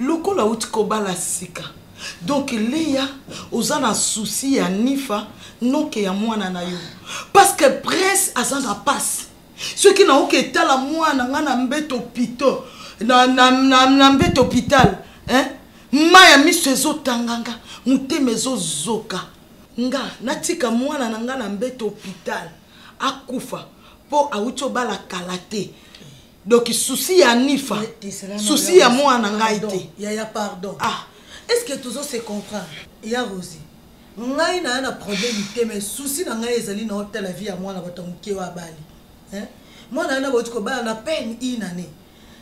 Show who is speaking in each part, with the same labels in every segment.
Speaker 1: lokola
Speaker 2: outi kobala sika Donc Lea oza na souci ya Nifa noke ya mwana na yo parce que prince aza na passe soki naoki etala mwana nga na mbeto pito na, na, na, na mbeto hôpital hein? ma ya miso ezotanganga motema ezozoka nga natika mwana na nga na mbeto hôpital akufa mpo awuti obala kala te donc souci ya nifa souci ya mwana ngai te yaya pardon
Speaker 3: ah. est ce que
Speaker 2: tozo se
Speaker 3: comprendre ya rosi ngai naya na problème te mais souci na ngai ezali na otala vie ya mwana bato ya moke oyo abali mwana wana bauti kobala na peine une année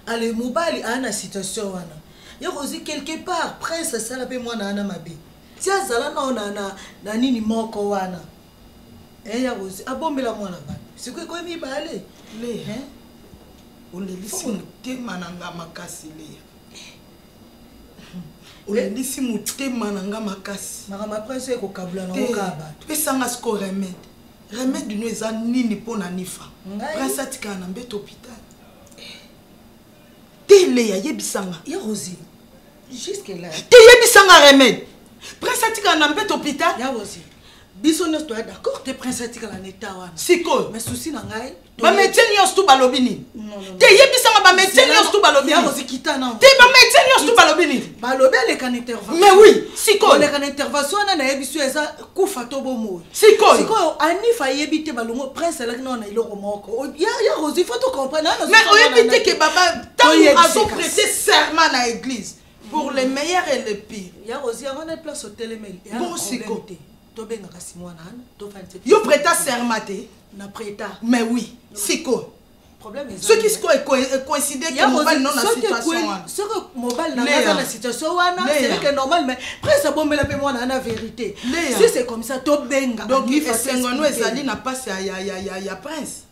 Speaker 3: ale mobali aya na situation wana ya rosi quelque part prince asala mpe mwana wana mabe ti azala nao na, na, na nini moko wana Eh, ya ozi abombela mwana batu sikoyo ekomi mibale le hein
Speaker 2: olelisi motema na nga makasi leya olelisi motema na nga makasi makambo apres oyo ekokabula
Speaker 3: na okaa bato pesanga siko
Speaker 2: remede remede no eza nini mpo na nifa prince atikala na mbeto hopital te leya yebisanga ya rosi
Speaker 3: jusque là te yebisanga
Speaker 2: remede prince atikala na mbeto hopital ya rosi
Speaker 3: biso nyonso toya d'accord te prince atikala na eta wana sikoyo mais souci na
Speaker 2: ngai
Speaker 3: bamédecin nyonso tu
Speaker 2: balobi nini te yebisanga bamédecin nyonso tu balobi te
Speaker 3: bamédecin nyonso tu
Speaker 2: balobi nini balobi aleka na
Speaker 3: intervention mais oui sikoyo
Speaker 2: aleka na intervention wana
Speaker 3: nayebisi yo eza kufa to bomoi sikoyo sikoyo
Speaker 2: anif ayebi
Speaker 3: te balongo prince alaki nao na eloko moko ya rosi fo to comprendre mais oyebi te ke
Speaker 2: baba ntango azoprete serment na église pour le meilleur et le pire ya ozi yango na place
Speaker 3: otelemeli bosiko
Speaker 2: tobengaka si
Speaker 3: mwana ana tofandi yo preta serma
Speaker 2: te na preta
Speaker 3: mais oui
Speaker 2: siko soki
Speaker 3: sikoyo
Speaker 2: ekoincide ke mobali no na situation wana soki mobali
Speaker 3: na aza na situation wana seleke normal mais prince abombela mpe mwana ana vérité si c'est comme ça tobenga donc esengo no
Speaker 2: ezali na mpasi ya prince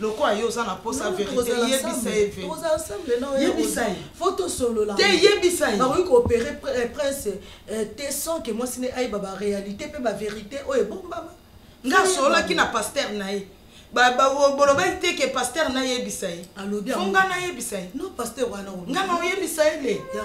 Speaker 2: lokola yo oza na posa verite yebisa ye ve
Speaker 3: yebisa ye fo
Speaker 2: tosolola
Speaker 3: te yebisa ye
Speaker 2: bakoki koopere
Speaker 3: eh, prince eh, te sans ke mwasi ne ayeba baréalité mpe baverité oyo ebombama nga asololaki
Speaker 2: na paster na ye bolobaki te ke paster nayebisa ye fo nga nayebisa ye nga
Speaker 3: na oyebisa ye
Speaker 2: le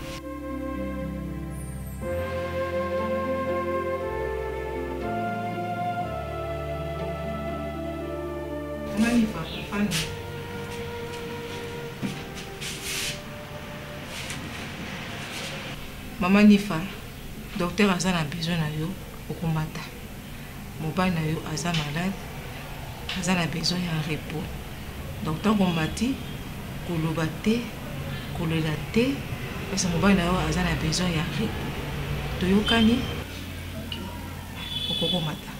Speaker 4: Maman Nifa, docteur Azana besoin na yo, okomata. Mobali na yo aza malade, aza na besoin ya repos. Donc ntango omati koloba te, kolela te, parce que mobali na yo aza na besoin ya repos. Toyokani? Okoki komata.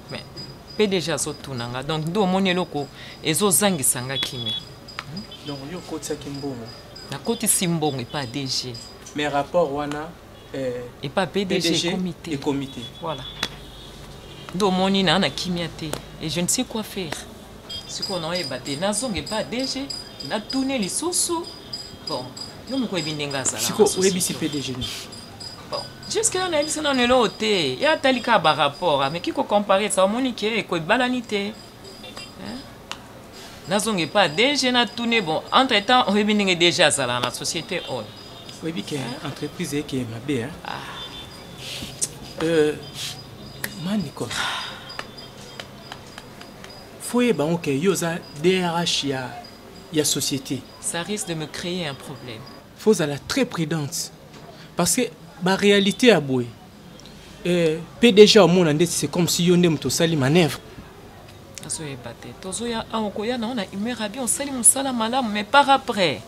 Speaker 4: mais pdg azotuna nga donc nde omoni eloko ezozangisa nga kimia hmm? donc yo
Speaker 5: okotisaki mbongo nakotisi
Speaker 4: mbongo epa dg mais rapport
Speaker 5: wana eh, epa
Speaker 4: pdg ekomi te voilà nde omoni naa na kimia te et je ne sais quoi faire sikoyo naoyeba te nazonga epa dg natune lisusu bon yo moko oyebi ndenge azala sikoyo oyebisi pdg
Speaker 5: nini
Speaker 4: Jusque là nayebi se nano eloko te ye atali kaka ba rapport ameki ko compare sa omoni ke eko ebalani te nazonga epa dg natune bon entre temps oyebi ndenge dg azalaka na société oyo oyebi ke
Speaker 5: entreprise eke mabe ah. euh, manicos faut yeba ngo ke yo oza drh ya, ya société ça risque de me
Speaker 4: créer un problème Faut zala très
Speaker 5: prudente parce que ba réalité ya boye euh, PDG omona ndeti c'est comme si yo nde moto osali manœuvre azoyeba
Speaker 4: te tozoya awa okoya na wana humeur ya bien osali mosala malamu mais par après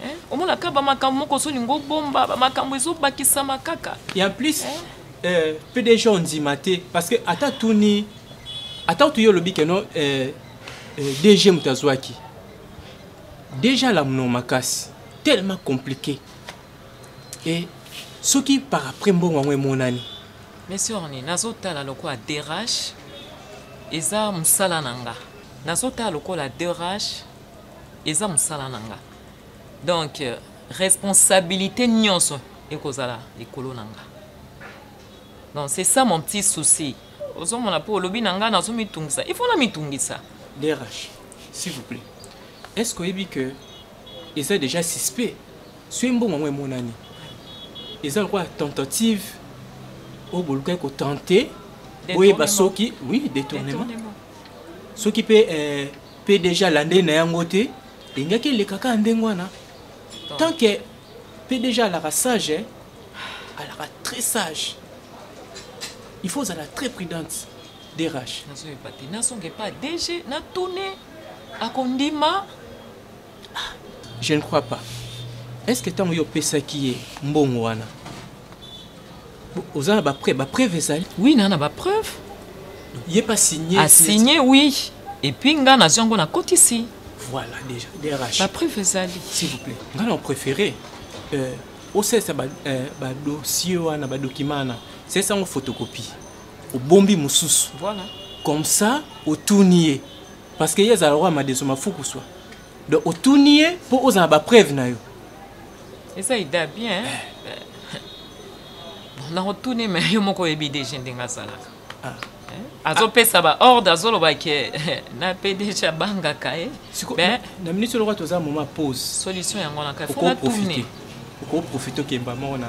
Speaker 4: eh, omonaka bamakambo moko ozolinga obomba bamakambo ezobakisama kaka ya plus eh?
Speaker 5: Eh, pdg ondima te parce que ata tuni ata otuyi olobi keno eh, eh, dg moto azwaki Deja la mno makasi tellement compliqué et soki par après mbongo yango emonani monsieur orni
Speaker 4: nazotala lokola derage eza mosala na nga nazotala lokola derage eza mosala na nga donc euh, responsabilité nyonso ekozala likolo na nga donc c'est ça mon petit souci ozomona mpo olobi na ngai nazomitungisa il faut namitungisa drh
Speaker 5: s'il vous plaît est ce que oyebi que eza déjà suspect soki mbongo yango emonani eza lokola tentative oyo bolukaki kotente boyeba soki oui détournement soki mpe eh, mpe déjà alandeli na yango te elingaki elekaka ndenge wana tant que mpe déjà alaka sage eh, alaka très sage il faut ozala très prudente derage nazoyeba te nazonge
Speaker 4: pa dg natune akondima ah,
Speaker 5: je ne crois pas est ce que ntango yo opesaki ye mbongo wana oza na bapreuve bapreuve ezali oui naa na bapreuve
Speaker 4: ye mpe
Speaker 5: asigne asigne
Speaker 4: oui epuis ngai nazwi yango nakotisi voilà déjà
Speaker 5: drh bapreuve ezali
Speaker 4: s'il vous plaît ngai na
Speaker 5: préféré euh, osalisa badosie euh, wana badokima wana salisa yango photocopie obombi mosusu voilà. comme
Speaker 4: ça
Speaker 5: otuni ye parce que ye azala lokola madeso mafuku swa donc otuni ye mpo ozala bapreuve na yo eza
Speaker 4: ida bien eh. nakotuni me yo moko oyebi deje ndenge azalaka azopesa baordre azoloba ke na pdg abangaka ye na
Speaker 5: minute oloko toza moma pose solution yango na
Speaker 4: kaoprofite okoprofite
Speaker 5: okemba moko na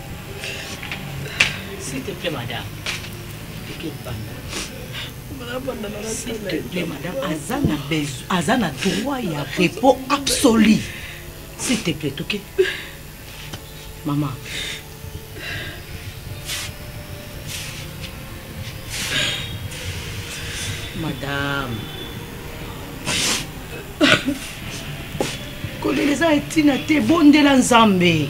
Speaker 6: S'il te plaît, madame. S'il te plaît, madame, aza na besoin, aza na droit ya repos absolu. S'il te plaît, ok? Maman. Madame. kolela eza etina te bondela nzambe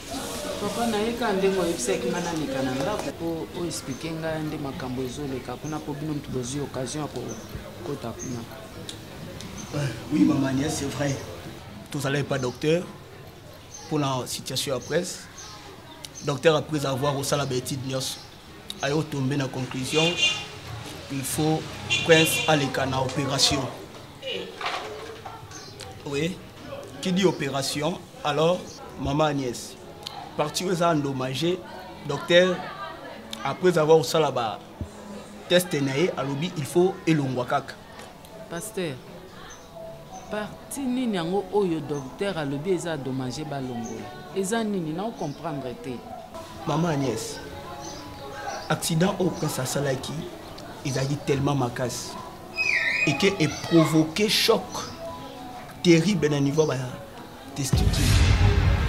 Speaker 6: papa na ye kaka ndenge oyebisaki nga nameka na ndako mpo oexplike nga nde makambo ezoleka kuna mpo bino motu bozwi occasion ya kokota kuna
Speaker 7: euh, oui mama nia c'est vrai tozala epa docteur mpona situation ya presse docteur après avoir osala baétude nyonso ayo tombe na conclusion il faut prince aleka na opération oui qui dit opération alors maman agnès parti oyo eza endommage docteur après avoir osala ba teste na ye alobi il faut elongwa kaka pasteur
Speaker 6: Parti nini yango oyo docteur alobi eza dommage balongola? Eza nini na comprendre te. Maman Agnès,
Speaker 7: accident au prince asalaki ezalaki tellement makasi et que e provoquer choc terrible na niveau ba testicule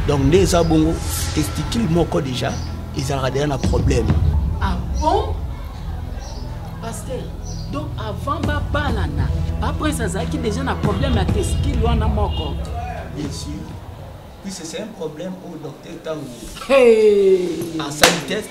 Speaker 7: donc nde eza bongo testicule moko déjà ezalaka deja na problème ah bon
Speaker 6: pasteur donc avant babalana baprince azalaki déjà na problème ya testicule wana moko bien sûr
Speaker 7: puisque c'est un problème oyo docteur ntango
Speaker 6: asali test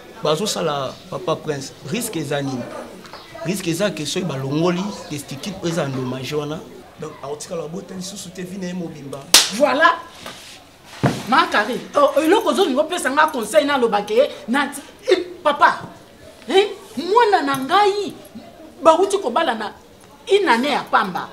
Speaker 7: bazosala papa prince risque eza nini risque eza ke soki balongoli testicule oyo eza endommage wana donc akotikala babota lisusu te vi na ye mobimba
Speaker 6: voilà makari oh, eloko ozolingi opesa nga conseil nalobaka ye nati eh, papa eh, mwana na ngai bauti kobalana une année ya pamba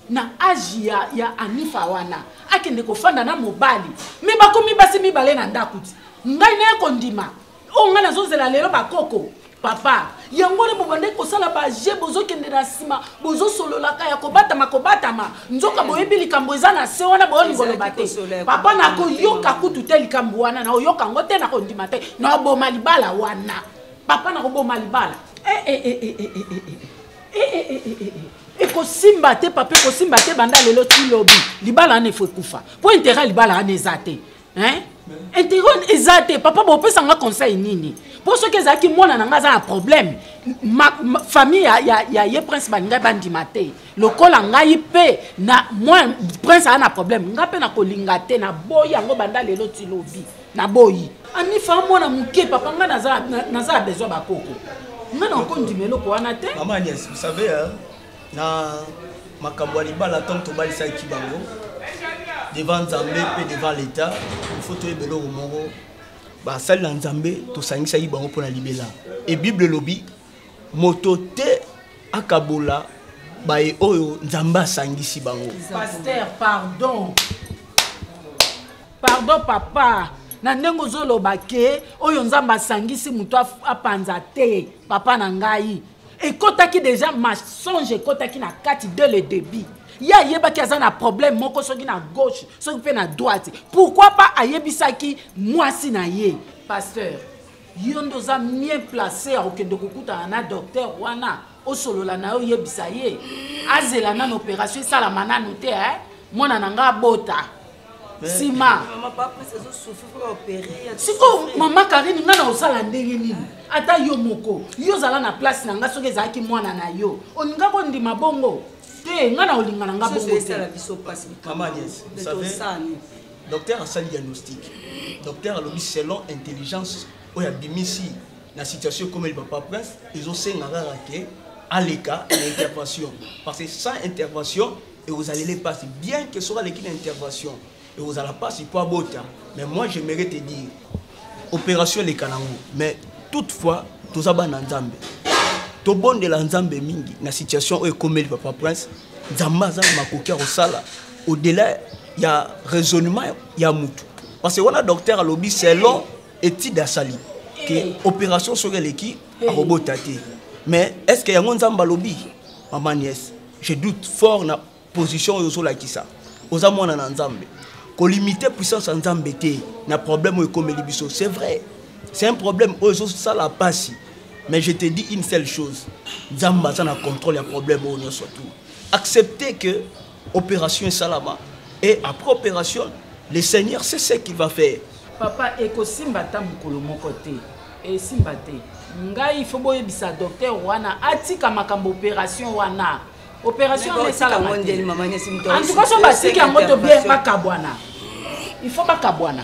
Speaker 6: na age ya, ya anifa wana akende kofanda na mobali me bakomi basi mibale na ndako ti ngai naye kondima oyo ngai nazozela lelo bakoko papa yango wana bobandaki kosala baje bozokende na nsima bozosololaka ya kobatama kobatama nzoka hmm. boyebi likambo eza na se wana boyolingi koloba te papa nakoyoka kutu te likambo wana naoyoka yango te nakondima te naoboma libala wana papa nakoboma libala eh, eh, eh, eh, eh, eh, eh. eh. ekosimba te papa ekosimba te banda lelo ti lobi libala wana efo ekufa mpo intérêt ya libala wana eza te intérêt wana eza te papa bopesa nga conseil nini mpo soki ezalaki mwana na ngai aza na problème famille ya, ya, ya ye prince balingai bandima te lokola ngai mpe na mwa prince aa na problème ngai mpe nakolinga te naboyi yango banda lelo ti lobi Na boyi. Anifa mwana muke papa nga naza naza besoin ba koko. Nga na ko ndima eloko wana te. Maman Agnès, vous savez
Speaker 7: hein, na makambo ya libala ntango tobalisaki bango devant nzambe mpe devant l'état il faut toyeba eloko moko basali na nzambe tosangisaki bango mpo na libela e bible elobi moto te akabola baye oyo nzambe asangisi bango paster pardon
Speaker 6: pardon papa na ndenge ozoloba ke oyo nzambe asangisi moto apanza te papa na ngai ekotaki deja masonge ekotaki na kati de le debit ye ayebaki aza na problème moko soki na gauche soki mpe na droite pourquoi pas ayebisaki mwasi na ye pasteur yo nde oza mien place ya kokende kokutana na docteur wana osolola na yo oyebisa ye azela nano opération esalama nano te eh? mwana na ngai abota nsima
Speaker 3: sikoyo mama
Speaker 6: karine ngai na osala ndenge nini ata yo moko yo ozala na place na ngai soki ezalaki mwana na yo olinga kondima bongo te ngai na olingana
Speaker 7: ngai bongo te docteur asali diagnostic docteur alobi selon intelligence oyo abimisi na situation ekomeli papa prince ezosenga kaka ke aleka na intervention parce que sans intervention ekozalele mpasi bien que soki aleki na intervention ekozala mpasi mpo abota mais moi j'aimerais te dire opération eleka nango mais toutefois toza bana nzambe tobondela nzambe mingi na situation oyo ekomeli papa prince nzambe aza na makoki ya kosala au-delà ya raisonnement ya mutu parce que wana docteur alobi selon étude asali ke eh. opération soki eleki eh. akobota te mais est ce que yango nzambe alobi mama nièce je doute fort na position oyo ozolakisa oza mwana na nzambe kolimite puissance ya nzambe te na problème oyo ekomeli biso c'est vrai c'est un problème oyo ezosala mpasi mais je te dis une seule chose nzambe aza na contrôle ya problème oyo nyonso tout accepter que opération esalama et après opération le seigneur c'est ce qu'il va faire papa ekosimba
Speaker 6: ata mokolo moko te esimba te ngai ifo boyebisa docteur wana atika makambo opération wana opération wana esalama te en tout cas so batiki yango to bien bakabwana il faut bakabwana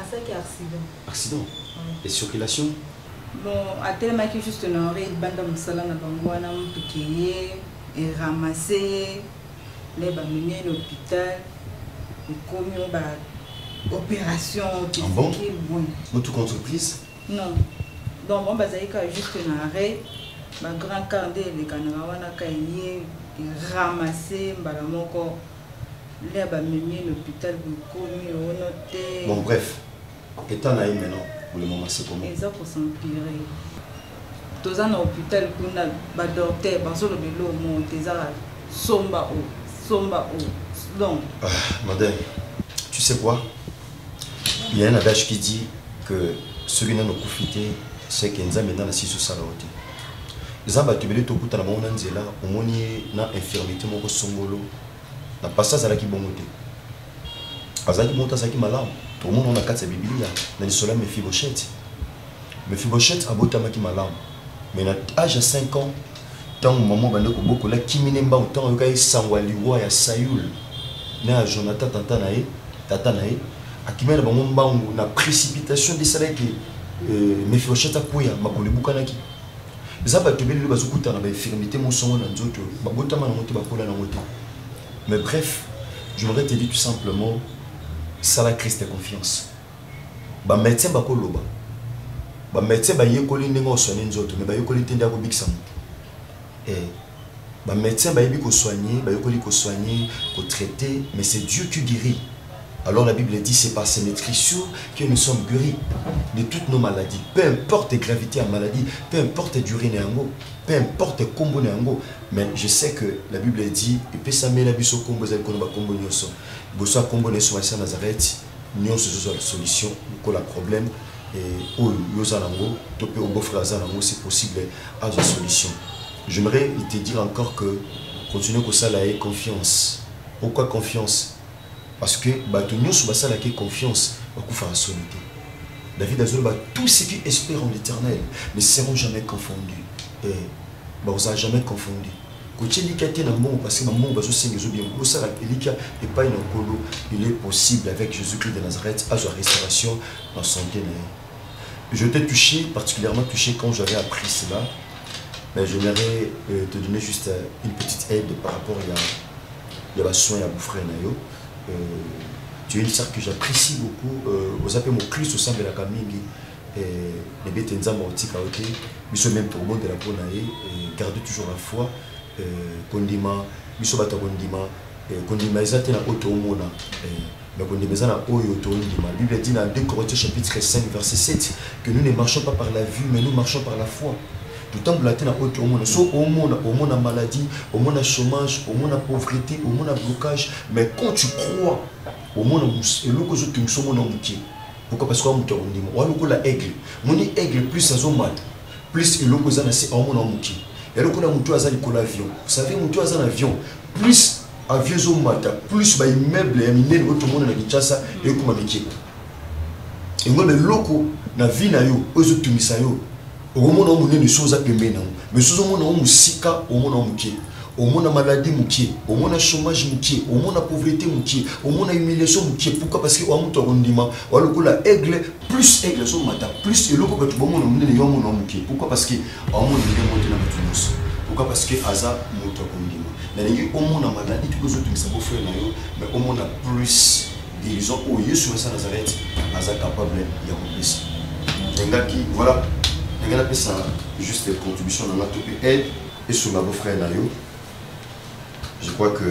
Speaker 8: asaki accident accident
Speaker 9: et circulation bon
Speaker 8: atelemaki juste na ore libanda mosala na bango wana motuke ye eramase ye nde bamemi ye na hôpital ekomi o ba opération physique ah
Speaker 9: bon motuka entreprise non
Speaker 8: donc bango bazali kaka juste na arret bagrand car nde elekanaka wana ka ye eramase mbala moko Lea ba memi ye l'hôpital bokomi ono te. Bon bref,
Speaker 9: état na ye maintenant pour le moment c'est comment? Eza ko s'empirer.
Speaker 8: Toza na hôpital kuna ba docteur bazo loba eloko moko te eza somba o somba o donc. Ah, madame,
Speaker 9: tu sais quoi? Il y a un adage qui dit que ceux qui n'ont profité, c'est que Nzambe n'a si sous salote. Eza batu bele to kuta na bango na nzela, omoni na infirmité moko songolo. Na pasta azalaki bongo te. Azalaki moto azalaki malamu. To mona na kati ya Biblia na lisolo ya Mephibosheth. Mephibosheth abotamaki malamu. Mais na âge ya 5 ans, ntango mama obanda kobokola kimi ne mbangu ntango ayoka ye sango ya liwa ya saul na ya jonathan tata na ye tata na ye akimia na bango mbangu na précipitation nde esalaki ke euh, mefioshete akweya makolo ebukanaki eza bato ebele lelo bazokutana bainfirmité mosongo na nzoto babotama nango te bakola nango te mais bref je voudrais te dire tout simplement sala christ confiance ba medecin bakoloba ba medecin bayekoli ndenge osoigne nzoto me bayekoli te nde akobikisa moto eh, ba medecin bayebi kosoigne bayekoli kosoigne kotraite mais c'est dieu qui guérit alors la bible dit c'est par ses maîtrissures que nous sommes guéris de toutes nos maladies peu importe gravité ya maladie peu importe durée na yango peu importe nkombo na yango mais je sais que la bible dit epesamela biso nkombo ezali koloba nkombo nyonso liboso ya nkombo na yesu masiya nazareti nyonso ezozwa solution lokola problème oyo yo oza nango to mpe obofre aza nango c'est possible azwa solution j'aimerais te dire encore que continue kosala ye confiance pourquoi confiance parce que bato nyonso basalaka ye confiance bakufaka soni te david azoloba tout ce qui espère en l'éternel ne seront jamais confondus eh, bakozala jamais confondus kotie elikya te na mbongo parce que bambongo bazosenga ezo bien bosala elikya epai na nkolo il est possible avec jésus christ de nazareth azwa restauration na santé na ye je t'ai touché particulièrement touché quand j'avais appris cela mais j'aimerais euh, te donner juste euh, une petite aide par rapport ya ya basoin ya bofrère na yo euh, tu es une sœur que j'apprécie beaucoup euh, oza mpe mokristo osambelaka mingi bebe te nzambe akotika yo te biso meme tokobondela mpo na ye garde toujours la foi kondima biso bato ya kondima kondima eza te na oyo toomona mais kondima eza na oyo tondima bible dit na 2 corinthiens chapitre 5 verset 7 que nous ne marchons pas par la vue mais nous marchons par la foi totambola te na oyo toomona so omona omona maladie omona chômage omona pauvreté omona blocage mais quand tu crois omona eloko ezotungisa omona moke pourquoi parce que wa moto ya kondima wa lokola aigle moni aigle plus azomata plus eloko eza na se aomona moke ya lokola moto aza likolo avion osave moto aza na avion plus avion ezomata plus baimmeuble ya minene oyo tomona na kinshasa ekoma mike yango na eloko na vie na yo oyo ezotungisa yo okomona o monene so oza pembeni nango mais sozo omona o mosika omona o moke omona maladie moke omona chômage moke omona pauvreté moke omona humiliation moke pourquoi parce que oya moto akondima oya lokola aigle plus aigle azomata plus eloko bato bomona monene yo omona moke pourquoi parce que aomona ndenge mote na bato nyonso pourquoi parce que aza moto akondima nalingi omona maladie tuku ezotungisa bofrere na yo mais omona plus Guérison oyo Yesu Mesa Nazareth aza capable ya kopesa. Engaki voilà ndenge napesa juste contribution na nga to mpe aide esunga bo frère na yo. Je crois que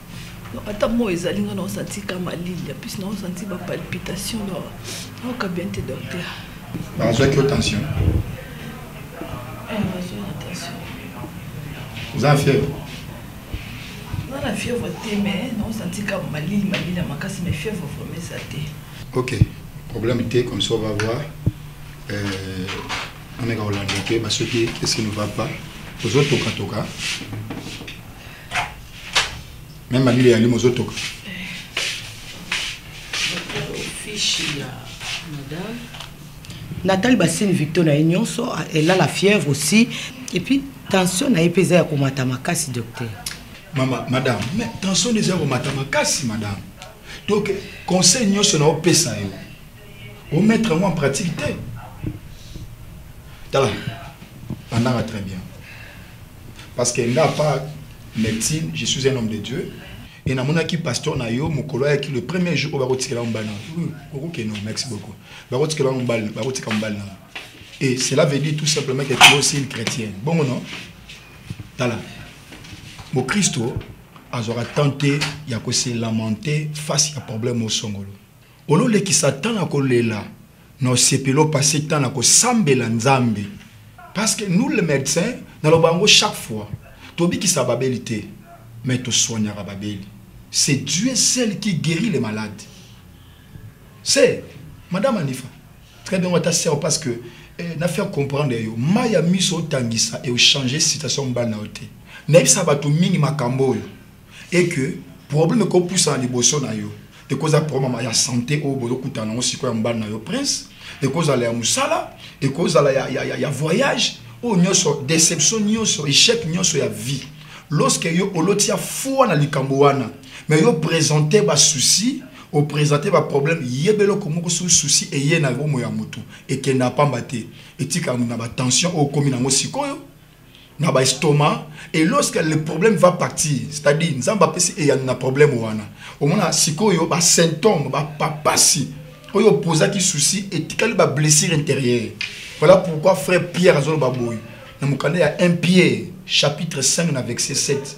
Speaker 10: ata moi ezali nga naosanti ka malili ya plus naosanti bapalpitation do naoka bien te docteur bazwaki yo
Speaker 11: tension oza na fièvre
Speaker 10: oza na fièvre te mais naosanti ka malili malili ya makasi mais fièvre vraimen eza te ok
Speaker 11: problème te comme ça on va voir euh, ameka kolanda te basoki esi ne va pas ozotokatoka Même à l'île, il y
Speaker 3: Nathalie Bassine Victor na nyonso, elle a la fièvre aussi. Et puis, tension na epeza ya komata makasi, docteur. Maman, madame,
Speaker 11: mais tension eza komata makasi, madame. Donc, conseil nyonso na opesa yo. Au mettre en pratique te. Tala, andanga très bien. parce que nga pas médecine je suis un homme de Dieu et na mona ki pasteur na yo mukolo ya ki le premier jour ba ko tikela mbana oko ke non merci beaucoup ba ko tikela mbana ba ko tikela mbana et cela veut dire tout simplement que tu es aussi une chrétienne bon non tala mo Christo azora tenter ya ko se lamenter face ya problème au songolo Ololekisa temps na kolela na osepeli opase temps na kosambela nzambe parce que nous le medecin na loba yango chaque fois tobikisa babeli te mais to soignaka babeli c'est Dieu seul qui guerit les malades c'est madame Anifa très bien wata sœur parce que eh, na faire comprendre yo maya miso otangisa et changer situation mbana ote na yebisa bato mingi makambo oyo et que problème ekopusana liboso na yo ekozala problème ya santé oyo bozokutana nango sikoyo ya mobali na yo prince ekozala ya mosala ekozala ya, ya, ya, ya voyage oyo nyonso déception nyonso échec nyonso ya vie lorsque yo oloti ya foi na likambo wana mais yo présente basouci opresente baproblème yeba eloko moko su souci eye na bomo ya motu ekenda pamba te etika na batension oyo okomi nango sikoyo na ba estomac et lorsque le problème va partir c'est-à-dire nzambe apesi eyano na problème wana omona sikoyo ba symptôme bapapasi oyo opozaki souci etikali ba blessure intérieure voilà pourquoi frère pierre azoloba boye na mokanda ya 1 pierre chapitre 5 na verset 7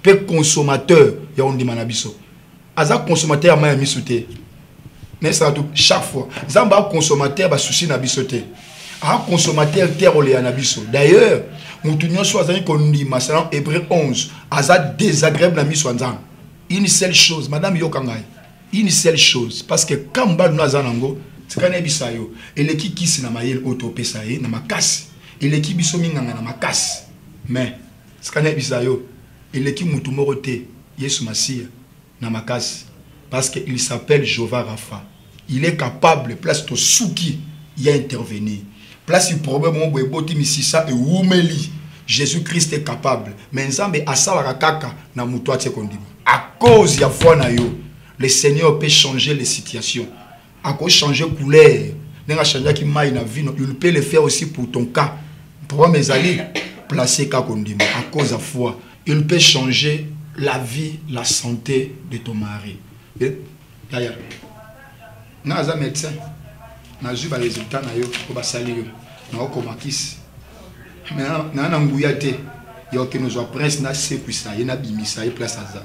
Speaker 11: mpe consommateur ya ondima na biso aza consommateur ya mai ya miso te naesaka tu chaque fois nzambe aconsommateur basusi na biso te aconsommateur te akolela na biso d'ailleurs moto nyonso azali kondima selon hébreu 11 aza désagréable na miso ya nzambe une seule chose madame yoka ngai une seule chose parce que ka mobali no aza nango tika nayebisa yo eleki kisi na mayele oyo topesa ye na makasi eleki biso minganga na makasi mais Sika nayebisa yo, eleki mutu moko te Yesu Masiya na makasi parce que il s'appelle Jehovah Rapha. Il est capable place tosuki ya intervenir. Place problème moko boye eboti misisa ewumeli, Jesus Christ est capable mais Nzambe asalaka kaka na mutu atie kondima. A cause ya foi na yo, le Seigneur peut changer les situations. ako changer couleur ndenge achangeaki mai na vino il peut le faire aussi pour ton cas problème ezali place ka kondima à cause ya foi il peut changer la vie la santé de ton mari eh, yaya nga aza médecin nazwi baresultat na yo oyo basali yo naokoma kisi naa na nguya te ya okende ozwa prince nasekwisa ye nabimisa ye place aza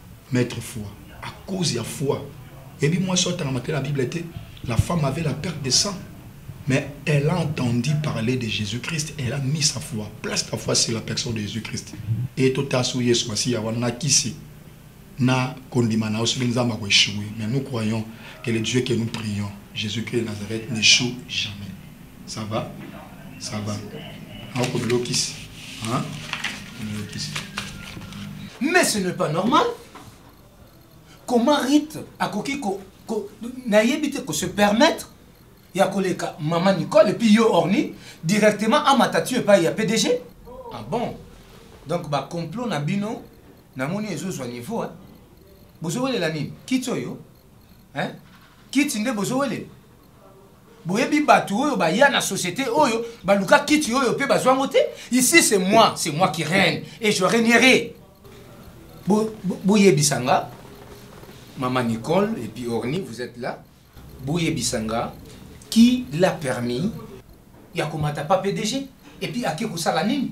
Speaker 11: Maitre foi à cause ya foi ebi moi soit tanga matin la Bible était la femme avait la perte de sang mais elle a entendu parler de Jésus-Christ elle a mis sa foi place ta foi sur la personne de Jésus-Christ et tout à sous Yesu Masiya wana kisi na kondima na soki nzambe akoechouer mais nous croyons que le Dieu que nous prions Jésus-Christ de Nazareth n'échoue jamais Ça va Ça va. Ako bilokisi. Hein
Speaker 12: Bilokisi. Mais ce n'est pas normal. Comment Rite akoki ko, ko nayebi te ko se permettre ya koleka maman Nicole et puis yo Orni directement à matatu et pas ya PDG Ah bon Donc ba complot na bino namoni ezozwa niveau hein. Bozowelela nini Kiti oyo hein Kiti nde bozowelela boyebi bato oyo baya na société oyo baluka kiti oyo mpe bazwa yango te ici c'est moi c'est moi qui règne et je régnerai boyebisa nga mama nicole et puis orni vous êtes là boyebisa nga qui l'a permis ya komata pa pdg et puis ake kosala nini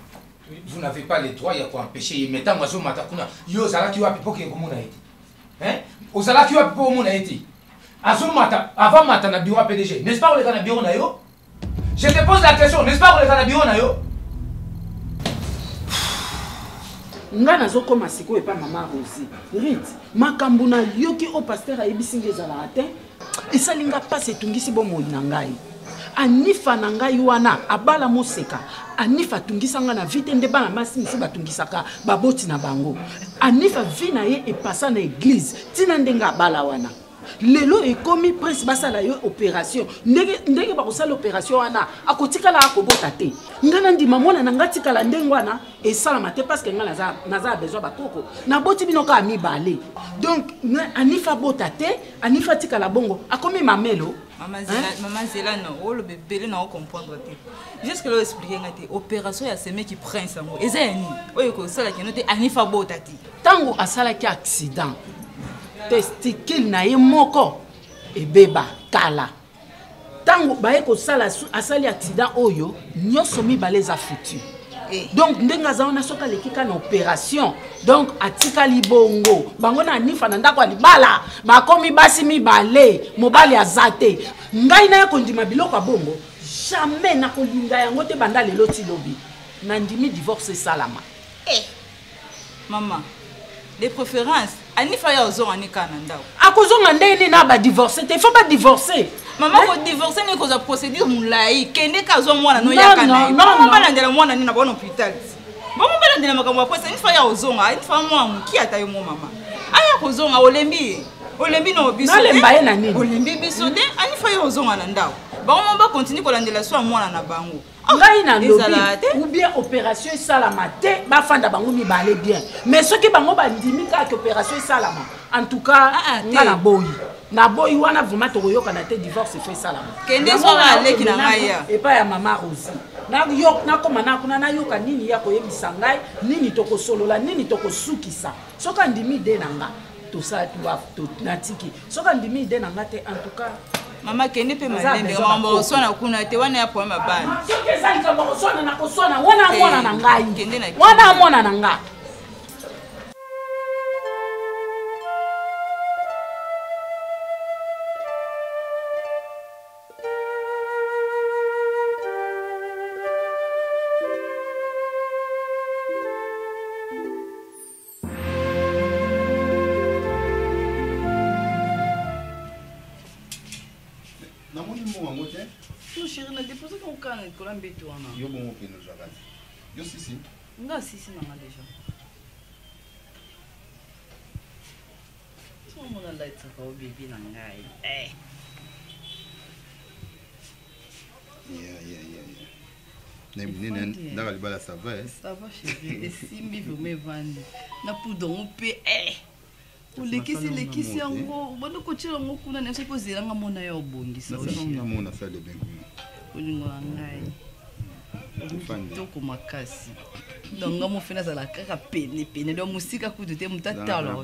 Speaker 12: vous n'avez pas le droit ya koempeche ye mais ntango azomata kuna yo ozalaki wapi mpo kee komona ye te ozalaki wapi mpo omona ye te azomata avant mata na bureau ya pdg n'est-ce pas koleka na bureau na yo je te pose la question n'est-ce pas koleka na bureau na yo
Speaker 6: nga nazokoma sikoyo epa mama rosi rit makambo nayoki oyo paster ayebisi nga ezalaka te esali nga mpasi etungisi bomoi na ngai anifa na ngai wana abala moseka anifa atungisa ngai na vi te nde bana basi mosusu batungisaka baboti na bango anifa vi na ye epasa na eglize ntina ndenge abala wana lelo ekomi prince basala yo opération ndenge, ndenge bakosala opération wana akotikala akobota te ngai nandima mwana na ngai atikala ndenge wana esalama te parceke ngai naza, naza besoin bakoko naboti bino kaka mibale donc anifa abota te anifa atikala bongo akomi mamelo mama hein?
Speaker 8: zela no oloba ebele na ocomprendre te jusque lo explike nga te opération ya semeki prince yango eza ya nini oyo ekosalaki yano te anifa bota te ntango
Speaker 6: asalaki accident testicule na ye moko ebeba kala ntango baye kosala asali accident oyo nyonso mibale eza futur eh. donc ndenge aza wana soki aleki ka na opération donc atikali bongo bango na nifa na ndako ya libala bakomi basi mibale mobali aza te ngai naye kondima biloko ya bongo jamais nakolinga yango te banda lelo ti lobi nandimi divorce esalama eh.
Speaker 8: Maman, de préférence anifa ya ozonga ni kana ndako akozonga ndenge nini na
Speaker 6: badivorce te faut badivorce mama kodivorce
Speaker 8: nini kozwa procédure molai kende ka azwa mwana no yaka na ye bongo balandela mwana nini na baona hôpital bongo balandela makambo ya kwesa inifa ya ozonga inifa mwa moki ata yo mo mama aya kozonga olembi ye olembi no biso nalemba ye na nini
Speaker 6: olembi biso te
Speaker 8: anifa ye ozonga na ndako bango mo bakontinue kolandela so ya mwana na bango Ah, ngai na lobi
Speaker 6: ou bien opération esalama te bafanda bango mibale bien mais soki bango bandimi kaka ke opération esalama en tout cas ah, ah, nga na boyi na boyi wana vraiment tokoyokana te divorce efo esalama
Speaker 8: epai ya mama rosi
Speaker 6: nakoma na kuna nayoka nini ya koyebisa ngai nini tokosolola nini tokosukisa soki andimi de na nga tosala natiki soki andimi ide na nga te en tout cas mama kende mpe
Speaker 8: malembe makambo bakoswana kuna te wana ya problème ya bana soki eza likambo
Speaker 6: bakoswana na koswana wana mwana na ngai wana mwana na ngai
Speaker 13: namoni mbongo yango te no chéri na dépose ka okala na likolo ya mbeto wana yo bongo okende ozwaka te yo sisi nga sisi nanga
Speaker 10: déjà omona latisaka o bebi na ngai eh. yeah,
Speaker 13: yeah, yeah, yeah. ndaka libala sava eh? sava chérie
Speaker 10: esimbi vraimen evandi na poudre yango mpe eh! olekisi elekisi yango obandi kotyela yango kuna na soki ozelanga mona ya obongisa
Speaker 13: olingo ya
Speaker 10: ngai kitoko makasi donc nga mofe nazala kaka pene pene donc mosika kutu te motatala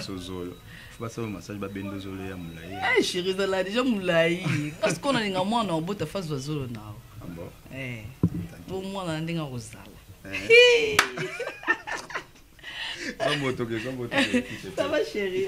Speaker 13: sozolo basala massage babenda zolo ya molai eh, sheri ezala deja
Speaker 10: molai kasi ko nalinga mwana obota fazwa zolo nao ah eh,
Speaker 13: po
Speaker 10: mwana na ndenge akozala eh. Ça va chérie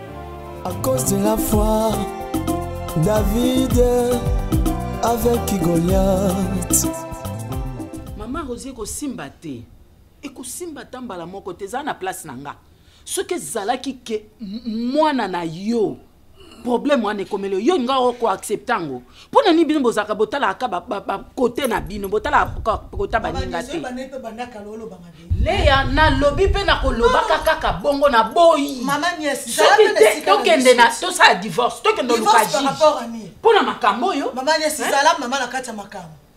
Speaker 1: À cause de la foi, David avec Goliath.
Speaker 6: Maman Rosie kosimba te. Ekosimba ta mbala moko te eza na place na nga. Soki ezalaki ke mwana na yo problème wana ekomeli yo nga oko accepte yango mpo na nini bino bozalaka botalaka bakote na bino botalaka kota baninga te leya nalobi mpe nakolobaka kaka bongo na boyi soki
Speaker 3: te tokende
Speaker 6: na tosala divorce tokende oluka jige mpo na makambo oyo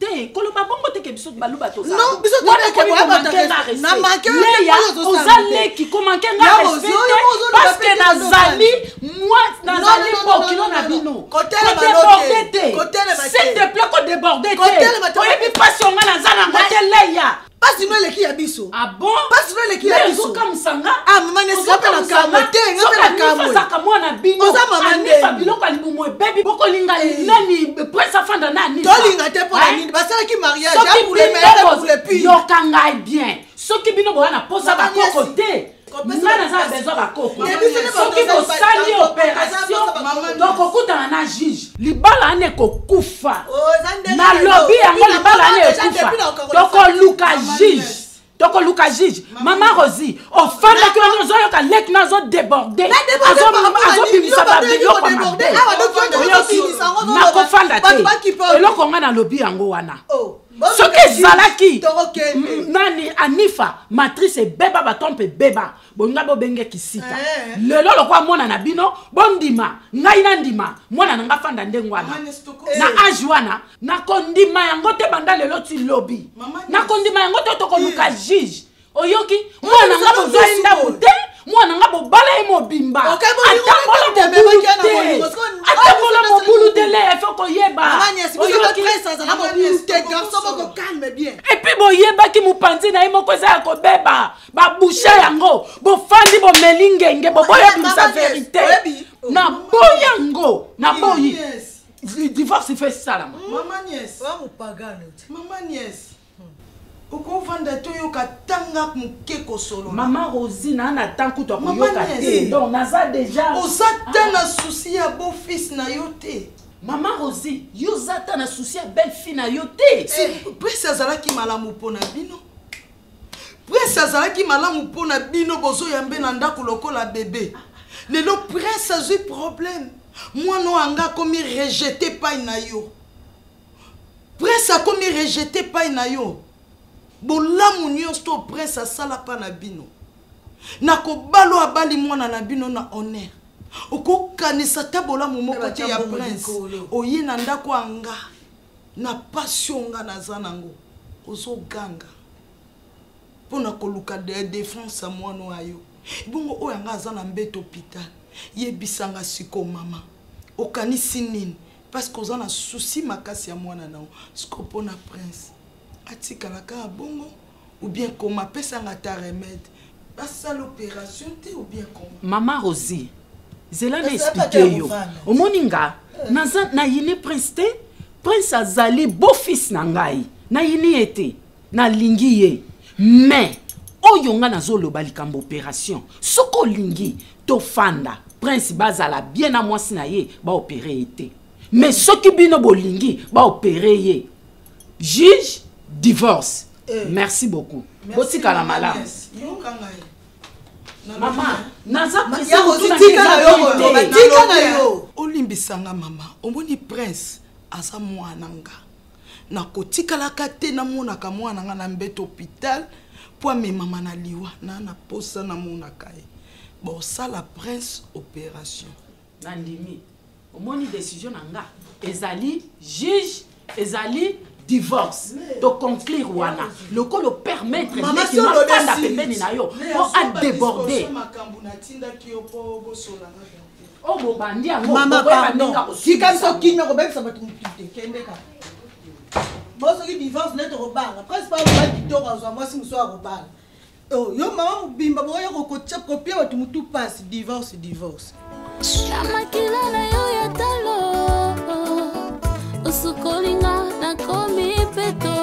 Speaker 3: te
Speaker 6: koloba bongo te ke biso baluba
Speaker 3: tozaaoza
Speaker 6: leki komanke nga respecte parceke nazali nazali bokilo na bino kodeborde te s'il te plait kodeborde te oyebi mpasi onga naza nango te leya pasi no eleki ya
Speaker 3: biso ah pasi no
Speaker 6: eleki ya biso
Speaker 3: ah, mama
Speaker 6: nesi nga mpe
Speaker 3: na kamwe te nga mpe na kamweosaka mwana bino oza
Speaker 6: mama ndefa
Speaker 3: biloko ya libumu ebebi
Speaker 6: bokolinga nani prince afanda na nini tolinga te mpo
Speaker 3: na
Speaker 6: nini
Speaker 3: basalaki mariage ya poulemeeule pi yoka ngai bien
Speaker 6: soki bino boya na posa bakoko te nga naza besoin bakoko soki bosali opération tokokutana na juge libala wana ekokufa oh, nalobi yango libala wana ekufa tokoluka juge tokoluka juge mama rosi ofandaki wana ozoyoka leki na azodeborde azobimisa babiloko mabe nakofanda te eloko ngai nalobi yango wana oh. soki ezalaki nani anifa matrice ebeba baton mpe ebeba bolinga bobenge kisita eh. lelo lokola mwana na bino bondima ngai nandima mwana na ngai fanda ndenge wana na eh. age wana nakondima yango te banda lelo ti lobi nakondima yango te tokoluka juge oyoki mwana nga bozwa ye ndako te mwana nga bobala ye mobimba atambola mobulu te atambola mobulu te le efo koyeba epuis boyebaki mopanzi na ye moko eza ya kobeba babusha yango bofandi bomeli ngenge boboya bimisa verite na boyi yango na boyi divorce fe esalama
Speaker 2: okovanda te oyoka tanga moke kosolola mama rosi naa
Speaker 6: na temps kutu akoyoka te donc naza deja oza ta na
Speaker 2: souci ya beau fils na yo te mama rosi
Speaker 6: yo oza ta na souci ya belle fille na yo te eh. presi azalaki
Speaker 2: malamu mpo na bino presi azalaki malamu mpo na bino bozoyambe na ndako lokola bebe lelo presi azwi problème mwana oyo anga akomi rejete epai na yo prince akomi rejete epai na yo bolamu nyonso to prince asala mpa na bino na kobalo abali mwana na bino na honneur okokanisa ata bolamu moko te ya prince oye na ndako ya nga na pasi oyo nga naza nango ozoganga mpo na koluka defense ya mwana oyo ayo ebongo oyo anga aza na mbeto hôpital yebisanga siko mama okanisi nini parce que oza na souci makasi ya mwana na yo siko mpo na prince atikala kaka bongo ou bien koma apesanga ata remède basala opération te ou bien koma mama rosi
Speaker 6: zela na explike yo omoni nga naza nayini prince te prince azali beau fils na ngai nayini ye te nalingi ye mais oyo nga nazoloba likambo operation soki olingi tofanda prince bazala bien na mwasi na ye baopere ye te mais soki bino bolingi baopere ye juge divorce eh. merci beaucoup botikala malamu mama naza
Speaker 2: olimbisanga mama omoni prince aza mwana nga nakotikalaka te namonaka mwana na ngai na mbete hôpital mpo amemama na liwa na na mposa namonaka ye bosala prince opération nandimi
Speaker 6: omoni décision na nga ezali juge ezali divorce toconclure wana lokola opermettre ndeki mafanda pembeni na yo mpo adeborde Oh, bobandi yango mama pardon
Speaker 3: tika biso kimia kobebisa bato mokite kende kaka bo soki divorce nde tokobanga prince pa mobali kitoko azwa mwasi mosusu akobala oh, yo mama mobimba bokoya kopia bato motu mpasi divorce divorce
Speaker 14: na makila na yo ya talo osukolinga nakomi peto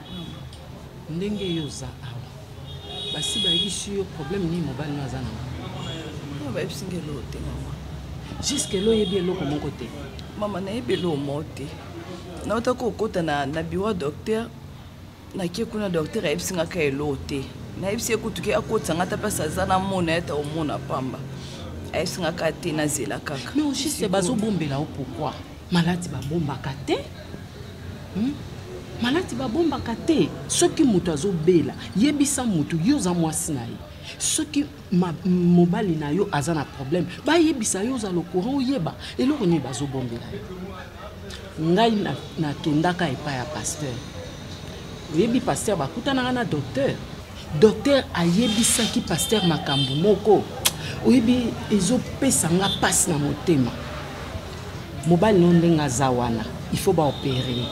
Speaker 6: ndenge yo oza awa basi bayebisi yo problème nini mobali no aza na ngo bayebisi nga eloko
Speaker 10: te mama juske elo
Speaker 6: oyebi eloko moko te mama nayebi eloko
Speaker 10: moko te nauta kokota na, na bureau docteur nakie kuna docteur ayebisi nga ka eloko te nayebisi ye kutu ke akotisa nga ata mpasi aza na mona ye ta omona pamba ayebisi nga ka te nazela kaka mais juste bazobombela
Speaker 6: yo pourkui maladi babombaka te hmm? maladi babombaka te soki moto azobela yebisa moto yo oza mwasi na ye soki mobali na yo aza na problème bayebisa yo ozala courant oyeba eloko nini bazobombela yo ngai nakendaka na epai ya pasteur oyebi pasteur bakutanaka na docteur docteur ayebisaki pasteur makambo moko oyebi ezopesa nga mpasi na motema mobali no ndenge aza wana il faut baopere ye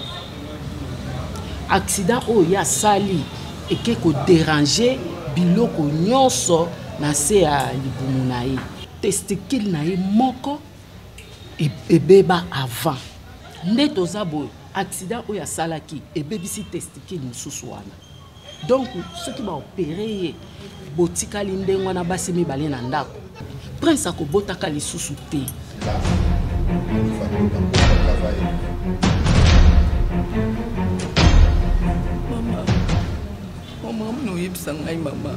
Speaker 6: accident oyo ye asali eke koderange biloko nyonso na se ya libumu na ye testicule na ye moko e-, ebeba avant nde toza boye accident oyo asalaki ebebisi testicule mosusu wana donc soki baopere ye botikali ndenge wana basi mibale na ndako prince akobotaka lisusu te mama mama mna oyebisa ngai mama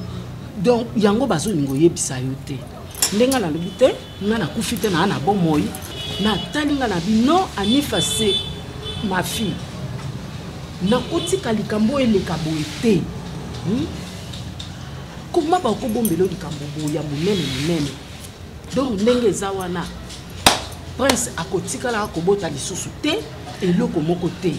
Speaker 6: donc yango bazolinga oyebisa yo te ndenge nalobi te nga nakufi te naa na bomoi natali nga na bi non anifa se ma fille nakotika likambo oyo eleka boye te hmm? koma bakobombela likambo boye ya monene monene donc ndenge eza wana prince akotikala akobota lisusu te eloko moko te